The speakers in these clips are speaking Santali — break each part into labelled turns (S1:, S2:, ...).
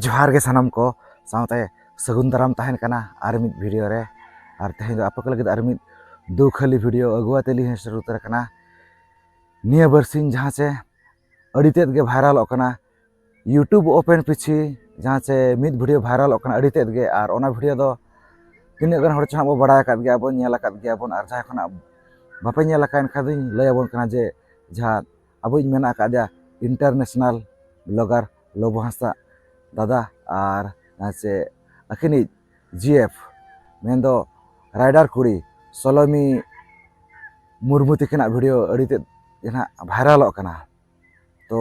S1: ᱡᱚᱦᱟᱨ ᱜᱮ ᱥᱟᱱᱟᱢ ᱠᱚ ᱥᱟᱶᱛᱮ ᱥᱟᱹᱜᱩᱱ ᱫᱟᱨᱟᱢ ᱛᱟᱦᱮᱱ ᱠᱟᱱᱟ ᱟᱨ ᱢᱤᱫ ᱵᱷᱤᱰᱤᱭᱳ ᱨᱮ ᱟᱨ ᱛᱮᱦᱮᱧ ᱫᱚ ᱟᱯᱮ ᱠᱚ ᱞᱟᱹᱜᱤᱫ ᱟᱨ ᱢᱤᱫ ᱫᱩᱠᱷᱟᱹᱞᱤ ᱵᱷᱤᱰᱤᱭᱳ ᱟᱹᱜᱩ ᱟᱛᱮ ᱞᱤᱧ ᱥᱮᱴᱮᱨ ᱩᱛᱟᱹᱨ ᱠᱟᱱᱟ ᱱᱤᱭᱟᱹ ᱵᱟᱨᱥᱤᱧ ᱡᱟᱦᱟᱸ ᱪᱮ ᱟᱹᱰᱤ ᱛᱮᱫ ᱜᱮ ᱵᱷᱟᱭᱨᱟᱞᱚᱜ ᱠᱟᱱᱟ ᱤᱭᱩᱴᱩᱵᱽ ᱳᱯᱮᱱ ᱯᱤᱪᱷᱤ ᱡᱟᱦᱟᱸ ᱪᱮ ᱢᱤᱫ ᱵᱷᱤᱰᱤᱭᱳ ᱵᱷᱟᱭᱨᱟᱞᱚᱜ ᱠᱟᱱᱟ ᱟᱹᱰᱤ ᱛᱮᱫ ᱜᱮ ᱟᱨ ᱚᱱᱟ ᱵᱷᱤᱰᱤᱭᱳ ᱫᱚ ᱛᱤᱱᱟᱹᱜ ᱜᱟᱱ ᱦᱚᱲ ᱪᱚ ᱦᱟᱸᱜ ᱵᱚ ᱵᱟᱲᱟᱭ ᱟᱠᱟᱫ ᱜᱮᱭᱟ ᱵᱚᱱ ᱧᱮᱞ ᱟᱠᱟᱫ ᱜᱮᱭᱟ ᱵᱚᱱ ᱟᱨ ᱡᱟᱦᱟᱸᱭ ᱠᱷᱚᱱᱟᱜ ᱵᱟᱯᱮ ᱧᱮᱞ ᱟᱠᱟᱫ ᱮᱱᱠᱷᱟᱱ ᱫᱚᱧ ᱞᱟᱹᱭ ᱟᱵᱚᱱ ᱠᱟᱱᱟ ᱡᱮ ᱡᱟᱦᱟᱸ ᱟᱵᱚᱭᱤᱡ ᱢᱮᱱᱟᱜ ᱟᱠᱟᱫᱮᱭᱟ ᱤᱱᱴᱟᱨᱱᱮᱥᱱᱟᱞ ᱵᱞᱚᱜᱟᱨ ᱞᱚᱵᱚ ᱦᱟᱸᱥᱫᱟ ᱫᱟᱫᱟ ᱟᱨ ᱥᱮ ᱟᱹᱠᱤᱱᱤᱡ ᱡᱤ ᱮᱯᱷ ᱢᱮᱱᱫᱚ ᱨᱟᱭᱰᱟᱨ ᱠᱩᱲᱤ ᱥᱚᱞᱚᱢᱤ ᱢᱩᱨᱢᱩ ᱛᱤᱠᱤᱱᱟᱜ ᱵᱷᱤᱰᱤᱭᱳ ᱟᱹᱰᱤ ᱛᱮᱫ ᱜᱮ ᱱᱟᱦᱟᱜ ᱵᱷᱟᱭᱨᱟᱞᱚᱜ ᱠᱟᱱᱟ ᱛᱚ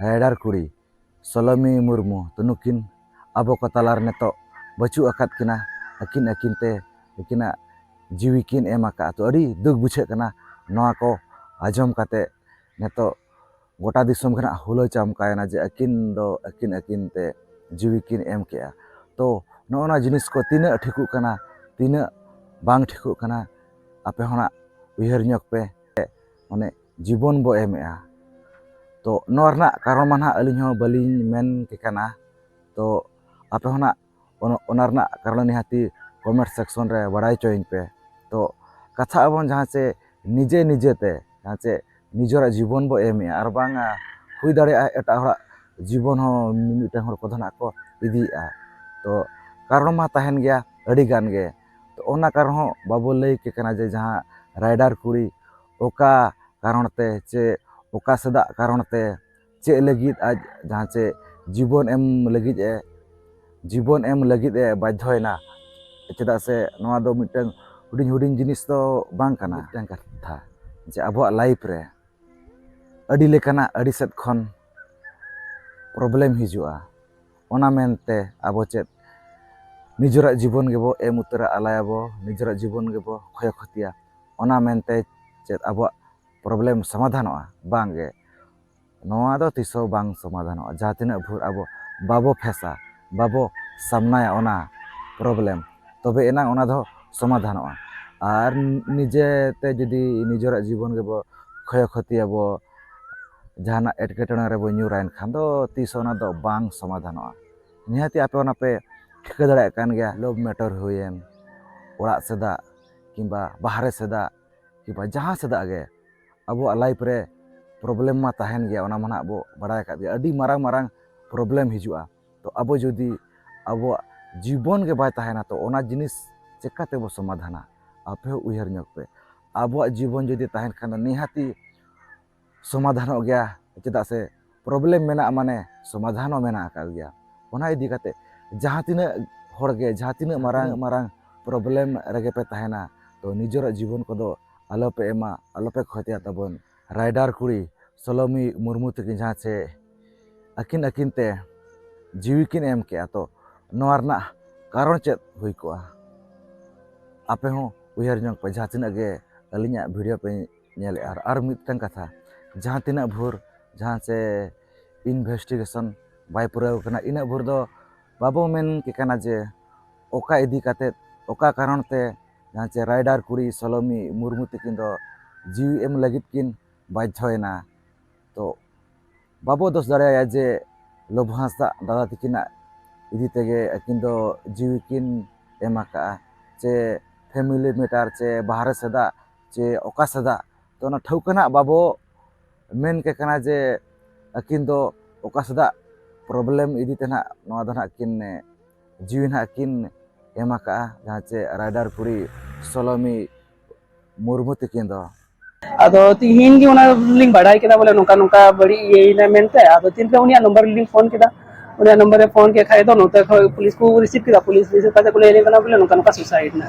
S1: ᱨᱟᱭᱰᱟᱨ ᱠᱩᱲᱤ ᱥᱚᱞᱚᱢᱤ ᱢᱩᱨᱢᱩ ᱛᱚ ᱱᱩᱠᱤᱱ ᱟᱵᱚ ᱠᱚ ᱛᱟᱞᱟ ᱨᱮ ᱱᱤᱛᱚᱜ ᱵᱟᱹᱪᱩᱜ ᱟᱠᱟᱫ ᱠᱤᱱᱟ ᱟᱹᱠᱤᱱ ᱟᱹᱠᱤᱱ ᱛᱮ ᱟᱹᱠᱤᱱᱟᱜ ᱡᱤᱣᱤ ᱠᱤᱱ ᱮᱢ ᱟᱠᱟᱫᱼᱟ ᱛᱚ ᱟᱹᱰᱤ ᱫᱩᱠ ᱵᱩᱡᱷᱟᱹᱜ ᱠᱟᱱᱟ ᱱᱚᱣᱟ ᱠᱚ ᱟᱸᱡᱚᱢ ᱠᱟᱛᱮᱫ ᱱᱤᱛᱚᱜ ᱜᱚᱴᱟ ᱫᱤᱥᱚᱢ ᱜᱮ ᱦᱟᱸᱜ ᱦᱩᱞᱟᱹᱣ ᱪᱟᱢᱠᱟᱣᱮᱱᱟ ᱡᱮ ᱟᱹᱠᱤᱱ ᱫᱚ ᱟᱹᱠᱤᱱ ᱟᱹᱠᱤᱱ ᱛᱮ ᱡᱤᱣᱤ ᱠᱤᱱ ᱮᱢ ᱠᱮᱫᱼᱟ ᱛᱚ ᱱᱚᱜᱼᱚ ᱱᱚᱣᱟ ᱡᱤᱱᱤᱥ ᱠᱚ ᱛᱤᱱᱟᱹᱜ ᱴᱷᱤᱠᱚᱜ ᱠᱟᱱᱟ ᱛᱤᱱᱟᱹᱜ ᱵᱟᱝ ᱴᱷᱤᱠᱚᱜ ᱠᱟᱱᱟ ᱟᱯᱮ ᱦᱚᱸ ᱦᱟᱸᱜ ᱩᱭᱦᱟᱹᱨ ᱧᱚᱜᱽ ᱯᱮ ᱢᱟᱱᱮ ᱡᱤᱵᱚᱱ ᱵᱚ ᱮᱢᱮᱜᱼᱟ ᱛᱚ ᱱᱚᱣᱟ ᱨᱮᱱᱟᱜ ᱠᱟᱨᱚᱱ ᱢᱟ ᱱᱟᱦᱟᱜ ᱟᱹᱞᱤᱧ ᱦᱚᱸ ᱵᱟᱹᱞᱤᱧ ᱢᱮᱱ ᱠᱮ ᱠᱟᱱᱟ ᱛᱚ ᱟᱯᱮ ᱦᱚᱸ ᱱᱟᱦᱟᱜ ᱚᱱᱟ ᱨᱮᱱᱟᱜ ᱠᱟᱨᱚᱱ ᱱᱤᱦᱟᱹᱛᱤ ᱠᱚᱢᱮᱱᱴ ᱥᱮᱠᱥᱚᱱ ᱨᱮ ᱵᱟᱲᱟᱭ ᱦᱚᱪᱚᱭᱤᱧ ᱯᱮ ᱛᱚ ᱠᱟᱛᱷᱟᱜ ᱟᱵᱚᱱ ᱡᱟᱦᱟᱸ ᱪᱮ ᱱᱤᱡᱮ ᱱᱤᱡᱮ ᱛᱮ ᱡᱟᱦᱟᱸ ᱪᱮ ᱱᱤᱡᱮᱨᱟᱜ ᱡᱤᱵᱚᱱ ᱵᱚ ᱮᱢᱮᱜᱼᱟ ᱟᱨ ᱵᱟᱝ ᱦᱩᱭ ᱫᱟᱲᱮᱭᱟᱜᱼᱟ ᱮᱴᱟᱜ ᱦᱚᱲᱟᱜ ᱡᱤᱵᱚᱱ ᱦᱚᱸ ᱢᱤᱢᱤᱫᱴᱟᱝ ᱦᱚᱲ ᱠᱚᱫᱚ ᱱᱟᱦᱟᱜ ᱠᱚ ᱤᱫᱤᱭᱮᱜᱼᱟ ᱛᱚ ᱠᱟᱨᱚᱱ ᱢᱟ ᱛᱟᱦᱮᱱ ᱜᱮᱭᱟ ᱟᱹᱰᱤ ᱜᱟᱱ ᱜᱮ ᱛᱚ ᱚᱱᱟ ᱠᱟᱨᱚᱱ ᱦᱚᱸ ᱵᱟᱵᱚ ᱞᱟᱹᱭ ᱠᱮ ᱠᱟᱱᱟ ᱡᱮ ᱡᱟᱦᱟᱸ ᱨᱟᱭᱰᱟᱨ ᱠᱩᱲᱤ ᱚᱠᱟ ᱠᱟᱨᱚᱱ ᱛᱮ ᱪᱮ ᱚᱠᱟ ᱥᱮᱫᱟᱜ ᱠᱟᱨᱚᱱ ᱛᱮ ᱪᱮᱫ ᱞᱟᱹᱜᱤᱫ ᱟᱡ ᱡᱟᱦᱟᱸ ᱪᱮ ᱡᱤᱵᱚᱱ ᱮᱢ ᱞᱟᱹᱜᱤᱫ ᱮ ᱡᱤᱵᱚᱱ ᱮᱢ ᱞᱟᱹᱜᱤᱫ ᱮ ᱵᱟᱫᱽᱫᱷᱚᱭᱮᱱᱟ ᱪᱮᱫᱟᱜ ᱥᱮ ᱱᱚᱣᱟ ᱫᱚ ᱢᱤᱫᱴᱟᱝ ᱦᱩᱰᱤᱧ ᱦᱩᱰᱤᱧ ᱡᱤᱱᱤᱥ ᱫᱚ ᱵᱟᱝ ᱠᱟᱱᱟ ᱢᱤᱫᱴᱟᱝ ᱠᱟᱛᱷᱟ ᱡᱮ ᱟᱵᱚᱣᱟᱜ ᱞᱟᱭᱤᱯᱷ ᱨᱮ ᱟᱹᱰᱤ ᱞᱮᱠᱟᱱᱟᱜ ᱟᱹᱰᱤ ᱥᱮᱫ ᱠᱷᱚᱱ ᱯᱨᱚᱵᱞᱮᱢ ᱦᱤᱡᱩᱜᱼᱟ ᱚᱱᱟ ᱢᱮᱱᱛᱮ ᱟᱵᱚ ᱪᱮᱫ ᱱᱤᱡᱮᱨᱟᱜ ᱡᱤᱵᱚᱱ ᱜᱮᱵᱚ ᱮᱢ ᱩᱛᱟᱹᱨᱟ ᱟᱞᱟᱭᱟᱵᱚ ᱱᱤᱡᱮᱨᱟᱜ ᱡᱤᱵᱚᱱ ᱜᱮᱵᱚ ᱠᱷᱚᱭ ᱠᱷᱚᱛᱤᱭᱟ ᱚᱱᱟ ᱢᱮᱱᱛᱮ ᱪᱮᱫ ᱟᱵᱚᱣᱟᱜ ᱯᱨᱚᱵᱞᱮᱢ ᱥᱚᱢᱟᱫᱷᱟᱱᱚᱜᱼᱟ ᱵᱟᱝᱜᱮ ᱱᱚᱣᱟ ᱫᱚ ᱛᱤᱥ ᱦᱚᱸ ᱵᱟᱝ ᱥᱚᱢᱟᱫᱷᱟᱱᱚᱜᱼᱟ ᱡᱟᱦᱟᱸ ᱛᱤᱱᱟᱹᱜ ᱵᱷᱳᱨ ᱟᱵᱚ ᱵᱟᱵᱚ ᱯᱷᱮᱥᱟ ᱵᱟᱵᱚ ᱥᱟᱢᱱᱟᱭᱟ ᱚᱱᱟ ᱯᱨᱚᱵᱞᱮᱢ ᱛᱚᱵᱮ ᱮᱱᱟᱝ ᱚᱱᱟ ᱫᱚ ᱥᱚᱢᱟᱫᱷᱟᱱᱚᱜᱼᱟ ᱟᱨ ᱱᱤᱡᱮᱛᱮ ᱡᱩᱫᱤ ᱱᱤᱡᱮᱨᱟᱜ ᱡᱤᱵᱚᱱ ᱜᱮᱵᱚ ᱠᱷᱚᱭ ᱠᱷᱚᱛᱤᱭᱟᱵᱚ ᱡᱟᱦᱟᱱᱟᱜ ᱮᱴᱠᱮᱴᱚᱬᱮ ᱨᱮᱵᱚᱱ ᱧᱩᱨᱟ ᱮᱱᱠᱷᱟᱱ ᱫᱚ ᱛᱤᱥ ᱦᱚᱸ ᱚᱱᱟ ᱫᱚ ᱵᱟᱝ ᱥᱚᱢᱟᱫᱷᱟᱱᱚᱜᱼᱟ ᱱᱤᱦᱟᱹᱛ ᱟᱯᱮ ᱚᱱᱟ ᱯᱮ ᱴᱷᱤᱠᱟᱹ ᱫᱟᱲᱮᱭᱟᱜ ᱠᱟᱱ ᱜᱮᱭᱟ ᱞᱚᱵᱽ ᱢᱮᱴᱟᱨ ᱦᱩᱭᱮᱱ ᱚᱲᱟᱜ ᱥᱮᱫᱟᱜ ᱠᱤᱝᱵᱟ ᱵᱟᱦᱨᱮ ᱥᱮᱫᱟᱜ ᱠᱤᱝᱵᱟ ᱡᱟᱦᱟᱸ ᱥᱮᱫᱟᱜ ᱜᱮ ᱟᱵᱚᱣᱟᱜ ᱞᱟᱭᱤᱯᱷ ᱨᱮ ᱯᱨᱚᱵᱞᱮᱢ ᱢᱟ ᱛᱟᱦᱮᱱ ᱜᱮᱭᱟ ᱚᱱᱟ ᱢᱟ ᱱᱟᱦᱟᱜ ᱵᱚ ᱵᱟᱲᱟᱭ ᱟᱠᱟᱫ ᱜᱮᱭᱟ ᱟᱹᱰᱤ ᱢᱟᱨᱟᱝ ᱢᱟᱨᱟᱝ ᱯᱨᱚᱵᱞᱮᱢ ᱦᱤᱡᱩᱜᱼᱟ ᱛᱚ ᱟᱵᱚ ᱡᱩᱫᱤ ᱟᱵᱚᱣᱟᱜ ᱡᱤᱵᱚᱱ ᱜᱮ ᱵᱟᱭ ᱛᱟᱦᱮᱱᱟ ᱛᱚ ᱚᱱᱟ ᱡᱤᱱᱤᱥ ᱪᱮᱠᱟ ᱛᱮᱵᱚ ᱥᱚᱢᱟᱫᱷᱟᱱᱟ ᱟᱯᱮ ᱦᱚᱸ ᱩᱭᱦᱟᱹᱨ ᱧᱚᱜᱽ ᱯᱮ ᱟᱵᱚᱣᱟᱜ ᱡᱤᱵᱚᱱ ᱡᱩᱫᱤ ᱛᱟᱦᱮᱱ ᱠᱷᱟᱱ ᱫᱚ ᱱᱤᱦᱟᱹᱛᱤ ᱥᱚᱢᱟᱫᱷᱟᱱᱚᱜ ᱜᱮᱭᱟ ᱪᱮᱫᱟᱜ ᱥᱮ ᱯᱨᱚᱵᱞᱮᱢ ᱢᱮᱱᱟᱜᱼᱟ ᱢᱟᱱᱮ ᱥᱚᱢᱟᱫᱷᱟᱱ ᱦᱚᱸ ᱢᱮᱱᱟᱜ ᱟᱠᱟᱫ ᱜᱮᱭᱟ ᱚᱱᱟ ᱤᱫᱤ ᱠᱟᱛᱮ ᱡᱟᱦᱟᱸ ᱛᱤᱱᱟᱹᱜ ᱦᱚᱲ ᱜᱮ ᱡᱟᱦᱟᱸ ᱛᱤᱱᱟᱹᱜ ᱢᱟᱨᱟᱝ ᱢᱟᱨᱟᱝ ᱯᱨᱚᱵᱞᱮᱢ ᱨᱮᱜᱮ ᱯᱮ ᱛᱟᱦᱮᱱᱟ ᱛᱚ ᱱᱤᱡᱮᱨᱟᱜ ᱡᱤᱵᱚᱱ ᱠᱚᱫᱚ ᱟᱞᱚ ᱯᱮ ᱮᱢᱟ ᱟᱞᱚ ᱯᱮ ᱠᱷᱚᱛᱤᱭᱟ ᱛᱟᱵᱚᱱ ᱨᱟᱭᱰᱟᱨ ᱠᱩᱲᱤ ᱥᱚᱞᱚᱢᱤ ᱢᱩᱨᱢᱩ ᱛᱟᱹᱠᱤᱱ ᱡᱟᱦᱟᱸ ᱪᱮ ᱟᱹᱠᱤᱱ ᱟᱹᱠᱤᱱ ᱛᱮ ᱡᱤᱣᱤ ᱠᱤᱱ ᱮᱢ ᱠᱮᱜᱼᱟ ᱛᱚ ᱱᱚᱣᱟ ᱨᱮᱱᱟᱜ ᱠᱟᱨᱚᱱ ᱪᱮᱫ ᱦᱩᱭ ᱠᱚᱜᱼᱟ ᱟᱯᱮ ᱦᱚᱸ ᱩᱭᱦᱟᱹᱨ ᱧᱚᱜᱽ ᱯᱮ ᱡᱟᱦᱟᱸ ᱛᱤᱱᱟᱹᱜ ᱜᱮ ᱟᱹᱞᱤᱧᱟᱜ ᱵᱷᱤᱰᱤᱭᱳ ᱯᱮ ᱧᱮᱞᱮᱜᱼᱟ ᱟᱨ ᱟᱨ ᱢᱤᱫᱴᱟᱝ ᱠᱟᱛᱷᱟ ᱡᱟᱦᱟᱸ ᱛᱤᱱᱟᱹᱜ ᱵᱷᱳᱨ ᱡᱟᱦᱟᱸ ᱪᱮ ᱤᱱᱵᱷᱮᱥᱴᱤᱜᱮᱥᱚᱱ ᱵᱟᱭ ᱯᱩᱨᱟᱹᱣ ᱠᱟᱱᱟ ᱤᱱᱟᱹᱜ ᱵᱷᱳᱨ ᱫᱚ ᱵᱟᱵᱚ ᱢᱮᱱ ᱠᱮ ᱠᱟᱱᱟ ᱡᱮ ᱚᱠᱟ ᱤᱫᱤ ᱠᱟᱛᱮᱫ ᱚᱠᱟ ᱠᱟᱨᱚᱱ ᱛᱮ ᱡᱟᱦᱟᱸ ᱪᱮ ᱨᱟᱭᱰᱟᱨ ᱠᱩᱲᱤ ᱥᱚᱞᱚᱢᱤ ᱢᱩᱨᱢᱩ ᱛᱤᱠᱤᱱ ᱫᱚ ᱡᱤᱣᱤ ᱮᱢ ᱞᱟᱹᱜᱤᱫ ᱠᱤᱱ ᱵᱟᱫᱽᱫᱷᱚᱭᱮᱱᱟ ᱛᱚ ᱵᱟᱵᱚ ᱫᱳᱥ ᱫᱟᱲᱮᱭᱟᱭᱟ ᱡᱮ ᱞᱚᱵᱚ ᱦᱟᱸᱥᱫᱟ ᱫᱟᱫᱟ ᱛᱤᱠᱤᱱᱟᱜ ᱤᱫᱤ ᱛᱮᱜᱮ ᱟᱹᱠᱤᱱ ᱫᱚ ᱡᱤᱣᱤ ᱠᱤᱱ ᱮᱢ ᱟᱠᱟᱫᱼᱟ ᱪᱮ ᱯᱷᱮᱢᱮᱞᱤ ᱢᱮᱴᱟᱨ ᱪᱮ ᱵᱟᱦᱨᱮ ᱥᱮᱫᱟᱜ ᱪᱮ ᱚᱠᱟ ᱥᱮᱫᱟᱜ ᱛᱚ ᱚᱱᱟ ᱴᱷᱟᱹᱣᱠᱟᱹ ᱱᱟᱦᱟᱜ ᱵᱟᱵᱚ ᱢᱮᱱ ᱠᱮ ᱠᱟᱱᱟ ᱡᱮ ᱟᱹᱠᱤᱱ ᱫᱚ ᱚᱠᱟ ᱥᱮᱫᱟᱜ ᱯᱨᱚᱵᱞᱮᱢ ᱤᱫᱤ ᱛᱮ ᱱᱟᱦᱟᱜ ᱱᱚᱣᱟ ᱫᱚ ᱱᱟᱦᱟᱜ ᱠᱤᱱ ᱡᱤᱣᱤ ᱱᱟᱦᱟᱜ ᱠᱤᱱ ᱮᱢ ᱟᱠᱟᱜᱼᱟ ᱡᱟᱦᱟᱸ ᱪᱮ ᱨᱟᱭᱰᱟᱨ ᱠᱩᱲᱤ ᱥᱚᱞᱚᱢᱤ ᱢᱩᱨᱢᱩ ᱛᱤᱠᱤᱱ ᱫᱚ ᱟᱫᱚ
S2: ᱛᱤᱦᱤᱧ ᱜᱮ ᱚᱱᱟ ᱞᱤᱧ ᱵᱟᱰᱟᱭ ᱠᱮᱫᱟ ᱵᱚᱞᱮ ᱱᱚᱝᱠᱟ ᱱᱚᱝᱠᱟ ᱵᱟᱹᱲᱤᱡ ᱤᱭᱟᱹᱭᱮᱱᱟ ᱢᱮᱱᱛᱮ ᱟᱫᱚ ᱛᱤᱱᱨᱮ ᱩᱱᱤᱭᱟᱜ ᱱᱚᱢᱵᱚᱨ ᱞᱤᱧ ᱯᱷᱳᱱ ᱠᱮᱫᱟ ᱩᱱᱤᱭᱟᱜ ᱱᱚᱢᱵᱚᱨ ᱨᱮ ᱯᱷᱳᱱ ᱠᱮᱫ ᱠᱷᱟᱡ ᱫᱚ ᱱᱚᱛᱮ ᱠᱷᱚᱡ ᱯᱩᱞᱤᱥ ᱠᱚ ᱨᱤᱥᱤᱵᱷ ᱠᱮᱫᱟ ᱯᱩᱞᱤᱥ ᱨᱤᱥᱤᱵᱷ ᱠᱟᱛᱮ ᱠᱚ ᱞᱟᱹᱭᱟᱞᱮ ᱠᱟᱱᱟ ᱵᱚᱞᱮ ᱱᱚᱝᱠᱟ ᱱᱚᱝᱠᱟ ᱥᱩᱥᱟᱭᱤᱰ ᱮᱱᱟ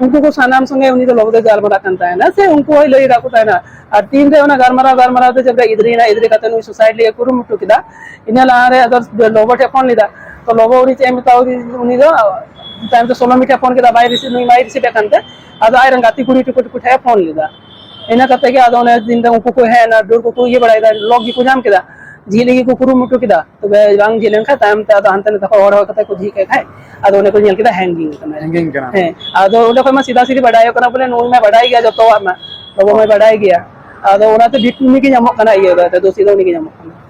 S2: ᱩᱱᱠᱩ ᱠᱚ ᱥᱟᱱᱟᱢ ᱥᱚᱸᱜᱮ ᱩᱱᱤ ᱫᱚ ᱞᱚᱜᱚᱫᱮ ᱜᱟᱞᱢᱟᱨᱟᱜ ᱠᱟᱱ ᱛᱟᱦᱮᱱᱟ ᱥᱮ ᱩᱱᱠᱩ ᱦᱚᱸᱭ ᱞᱟᱹᱭ ᱟᱠᱟᱫ ᱠᱚ ᱛᱟᱦᱮᱱᱟ ᱟᱨ ᱛᱤᱱ ᱨᱮ ᱚᱱᱟ ᱜᱟᱞᱢᱟᱨᱟᱣ ᱜᱟᱞᱢᱟᱨᱟᱣ ᱛᱮ ᱡᱟᱵᱨᱟ ᱤᱫᱨᱤᱭᱮᱱᱟ ᱤᱫᱨᱤ ᱠᱟᱛᱮ ᱱᱩᱭ ᱥᱩᱥᱟᱭᱤᱰ ᱞᱟᱹᱜᱤᱫ ᱠᱩᱨᱩᱢᱩᱴᱩ ᱠᱮᱫᱟ ᱤᱱᱟᱹ ᱞᱟᱦᱟᱨᱮ ᱟᱫᱚ ᱞᱚᱵᱚ ᱴᱷᱮᱱ ᱯᱷᱳᱱ ᱞᱮᱫᱟ ᱛᱚ ᱞᱚᱵᱚ ᱩᱱᱤ ᱪᱮᱫ ᱮ ᱢᱮᱛᱟᱣ ᱩᱱᱤ ᱫᱚ ᱛᱟᱭᱚᱢ ᱛᱮ ᱥᱳᱱᱟᱢᱤ ᱴᱷᱮᱱ ᱯᱷᱳᱱ ᱠᱮᱫᱟ ᱵᱟᱭ ᱨᱤᱥᱤᱵᱷ ᱱᱩᱭ ᱵᱟᱭ ᱨᱤᱥᱤᱵᱷ ᱮᱫ ᱠᱟᱱᱛᱮ ᱟᱫᱚ ᱟᱡᱨᱮᱱ ᱜᱟᱛᱮ ᱠᱩᱲᱤ ᱴᱩᱠᱩ ᱴᱩᱠᱩ ᱴᱷᱮᱱ ᱯᱷᱳᱱ ᱞᱮᱫᱟ ᱤᱱᱟᱹ ᱠᱟᱛᱮ ᱜᱮ ᱟᱫᱚ ᱚᱱᱮ ᱫᱤᱱ ᱫᱚ ᱩᱱᱠᱩ ᱠᱚ ᱦᱮᱡ ᱮᱱᱟ ᱰᱟᱹᱨ ᱠᱚᱠᱚ ᱤᱭᱟᱹ ᱵᱟᱲᱟᱭᱮᱫᱟ ᱞᱚᱠ ᱜᱮᱠᱚ ᱧᱟᱢ ᱠᱮᱫᱟ ᱡᱷᱤᱡ ᱞᱟᱹᱜᱤᱫ ᱠᱚ ᱠᱩᱨᱩᱢᱩᱴᱩ ᱠᱮᱫᱟ ᱛᱚᱵᱮ ᱵᱟᱝ ᱡᱷᱤᱡ ᱞᱮᱱᱠᱷᱟᱱ ᱛᱟᱭᱚᱢ ᱛᱮ ᱟᱫᱚ ᱦᱟᱱᱛᱮ ᱱᱟᱛᱮ ᱦᱚᱲ ᱦᱚᱲ ᱠᱟᱛᱮ ᱠᱚ ᱡᱷᱤᱡ ᱠᱮᱫ ᱠᱷᱟᱡ ᱟᱫᱚ ᱚᱸᱰᱮ ᱠᱚ ᱧᱮᱞ ᱠᱮᱫᱟ ᱦᱮᱝᱜᱤᱝ ᱠᱟᱱᱟ ᱦᱮᱝᱜᱤᱝ ᱠᱟᱱᱟ ᱦᱮᱸ
S3: ᱟᱫᱚ ᱚᱸᱰᱮ
S2: ᱠᱷᱚᱱ ᱢᱟ ᱥᱤᱫᱷᱟ ᱥᱤᱫᱷᱤ ᱵᱟᱰᱟᱭᱚᱜ ᱠᱟᱱᱟ ᱵᱚᱞᱮ ᱱᱩᱭ ᱢᱟ ᱵᱟᱰᱟᱭ ᱜᱮᱭᱟ ᱡᱚᱛᱚᱣᱟᱜ ᱢᱟ ᱵᱟᱵᱟ ᱢᱟᱭ ᱵᱟᱰᱟᱭ ᱜᱮᱭᱟ ᱟᱫᱚ ᱚᱱᱟᱛᱮ ᱵᱷᱤᱠᱴᱤᱢ ᱜᱮ ᱧᱟᱢᱚᱜ ᱠᱟᱱᱟ ᱤᱭᱟᱹ ᱫᱚ ᱫᱳᱥᱤ ᱫᱚ ᱩᱱᱤ ᱜᱮ ᱧᱟᱢᱚᱜ ᱠᱟᱱᱟ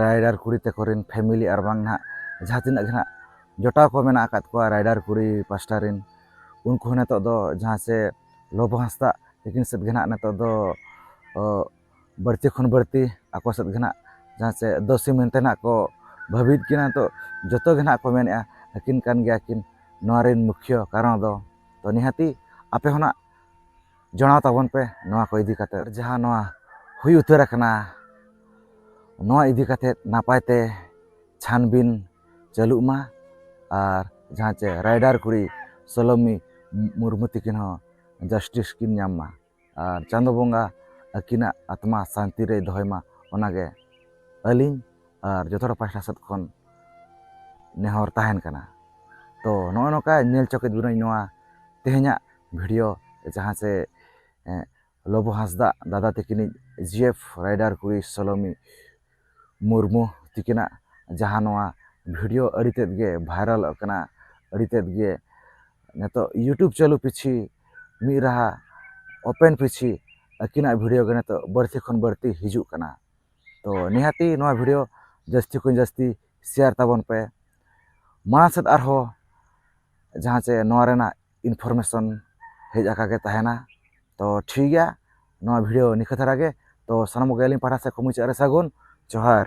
S1: ᱨᱟᱭᱰᱟᱨ ᱠᱩᱲᱤ ᱛᱟᱠᱚ ᱨᱮᱱ ᱯᱷᱮᱢᱮᱞᱤ ᱟᱨ ᱵᱟᱝ ᱱᱟᱦᱟᱜ ᱡᱟᱦᱟᱸ ᱛᱤᱱᱟᱹᱜ ᱜᱮ ᱱᱟᱦᱟᱜ ᱡᱚᱴᱟᱣ ᱠᱚ ᱢᱮᱱᱟᱜ ᱟᱠᱟᱫ ᱠᱚᱣᱟ ᱨᱟᱭᱰᱟᱨ ᱠᱩᱲᱤ ᱯᱟᱥᱴᱟ ᱨᱮᱱ ᱩᱱᱠᱩ ᱦᱚᱸ ᱱᱤᱛᱚᱜ ᱫᱚ ᱡᱟᱦᱟᱸ ᱥᱮ ᱞᱚᱵᱚ ᱦᱟᱸᱥᱫᱟ ᱛᱟᱹᱠᱤᱱ ᱥᱮᱫ ᱜᱮ ᱱᱟᱦᱟᱜ ᱱᱤᱛᱚᱜ ᱫᱚ ᱵᱟᱹᱲᱛᱤ ᱠᱷᱚᱱ ᱵᱟᱹᱲᱛᱤ ᱟᱠᱚ ᱥᱮᱫ ᱜᱮ ᱱᱟᱦᱟᱜ ᱡᱟᱦᱟᱸ ᱥᱮ ᱫᱳᱥᱤ ᱢᱮᱱᱛᱮ ᱱᱟᱦᱟᱜ ᱠᱚ ᱵᱷᱟᱹᱵᱤᱭᱮᱫ ᱠᱤᱱᱟ ᱱᱤᱛᱚᱜ ᱡᱚᱛᱚ ᱜᱮ ᱱᱟᱦᱟᱜ ᱠᱚ ᱢᱮᱱᱮᱫᱼᱟ ᱟᱹᱠᱤᱱ ᱠᱟᱱ ᱜᱮᱭᱟ ᱠᱤᱱ ᱱᱚᱣᱟ ᱨᱮᱱ ᱢᱩᱠᱷᱭᱟᱹ ᱠᱟᱨᱚᱱ ᱫᱚ ᱛᱚ ᱱᱤᱦᱟᱹᱛᱤ ᱟᱯᱮ ᱦᱚᱸ ᱱᱟᱦᱟᱜ ᱡᱚᱲᱟᱣ ᱛᱟᱵᱚᱱ ᱯᱮ ᱱᱚᱣᱟ ᱠᱚ ᱤᱫᱤ ᱠᱟᱛᱮ ᱡᱟᱦᱟᱸ ᱱᱚᱣᱟ ᱦᱩᱭ ᱩᱛᱟᱹᱨ ᱟᱠᱟᱱᱟ ᱱᱚᱣᱟ ᱤᱫᱤ ᱠᱟᱛᱮ ᱱᱟᱯᱟᱭ ᱛᱮ ᱪᱷᱟᱱᱵᱤᱱ ᱪᱟᱹᱞᱩᱜ ᱢᱟ ᱟᱨ ᱡᱟᱦᱟᱸ ᱪᱮ ᱨᱟᱭᱰᱟᱨ ᱠᱩᱲᱤ ᱥᱚᱞᱚᱢᱤ ᱢᱩᱨᱢᱩ ᱛᱤᱠᱤᱱ ᱦᱚᱸ ᱡᱟᱥᱴᱤᱥ ᱠᱤᱱ ᱧᱟᱢ ᱢᱟ ᱟᱨ ᱪᱟᱸᱫᱚ ᱵᱚᱸᱜᱟ ᱟᱹᱠᱤᱱᱟᱜ ᱟᱛᱢᱟ ᱥᱟᱱᱛᱤ ᱨᱮᱭ ᱫᱚᱦᱚᱭ ᱢᱟ ᱚᱱᱟᱜᱮ ᱟᱹᱞᱤᱧ ᱟᱨ ᱡᱚᱛᱚ ᱦᱚᱲ ᱯᱟᱦᱴᱟ ᱥᱮᱫ ᱠᱷᱚᱱ ᱱᱮᱦᱚᱨ ᱛᱟᱦᱮᱱ ᱠᱟᱱᱟ ᱛᱚ ᱱᱚᱜᱼᱚ ᱱᱚᱝᱠᱟ ᱧᱮᱞ ᱦᱚᱪᱚ ᱠᱮᱫ ᱵᱚᱱᱟᱹᱧ ᱱᱚᱣᱟ ᱛᱮᱦᱮᱧᱟᱜ ᱵᱷᱤᱰᱤᱭᱳ ᱡᱟᱦᱟᱸ ᱪᱮ ᱞᱚᱵᱚ ᱦᱟᱸᱥᱫᱟ ᱫᱟᱫᱟ ᱛᱟᱹᱠᱤᱱᱤᱡ ᱡᱤ ᱮᱯᱷ ᱨᱟᱭᱰᱟᱨ ᱠᱩᱲᱤ ᱥᱳᱞᱳᱢᱤ ᱢᱩᱨᱢᱩ ᱛᱤᱠᱤᱱᱟᱜ ᱡᱟᱦᱟᱸ ᱱᱚᱣᱟ ᱵᱷᱤᱰᱤᱭᱳ ᱟᱹᱰᱤ ᱛᱮᱫ ᱜᱮ ᱵᱷᱟᱭᱨᱟᱞᱚᱜ ᱠᱟᱱᱟ ᱟᱹᱰᱤ ᱛᱮᱫ ᱜᱮ ᱱᱤᱛᱚᱜ ᱤᱭᱩᱴᱩᱵᱽ ᱪᱟᱹᱞᱩ ᱯᱤᱪᱷᱤ ᱢᱤᱫ ᱨᱟᱦᱟ ᱳᱯᱮᱱ ᱯᱤᱪᱷᱤ ᱟᱹᱠᱤᱱᱟᱜ ᱵᱷᱤᱰᱤᱭᱳ ᱜᱮ ᱱᱤᱛᱚᱜ ᱵᱟᱹᱲᱛᱤ ᱠᱷᱚᱱ ᱵᱟᱹᱲᱛᱤ ᱦᱤᱡᱩᱜ ᱠᱟᱱᱟ ᱛᱚ ᱱᱤᱦᱟᱹᱛᱤ ᱱᱚᱣᱟ ᱵᱷᱤᱰᱤᱭᱳ ᱡᱟᱹᱥᱛᱤ ᱠᱷᱚᱱ ᱡᱟᱹᱥᱛᱤ ᱥᱮᱭᱟᱨ ᱛᱟᱵᱚᱱ ᱯᱮ ᱢᱟᱲᱟᱝ ᱥᱮᱫ ᱟᱨᱦᱚᱸ ᱡᱟᱦᱟᱸ ᱪᱮ ᱱᱚᱣᱟ ᱨᱮᱱᱟᱜ ᱤᱱᱯᱷᱚᱨᱢᱮᱥᱚᱱ ᱦᱮᱡ ᱟᱠᱟᱜ ᱜᱮ ᱛᱟᱦᱮᱱᱟ ᱛᱚ ᱴᱷᱤᱠ ᱜᱮᱭᱟ ᱱᱚᱣᱟ ᱵᱷᱤᱰᱭᱳ ᱱᱤᱝᱠᱟᱹ ᱫᱷᱟᱨᱟ ᱜᱮ ᱛᱚ ᱥᱟᱱᱟᱢ ᱠᱚᱜᱮ ᱟᱹᱞᱤᱧ ᱯᱟᱦᱴᱟ ᱥᱮᱫ ᱠᱷᱚᱱ ᱢᱩᱪᱟᱹᱫ ᱨᱮ ᱥᱟᱹᱜᱩᱱ ᱡᱚᱦᱟᱨ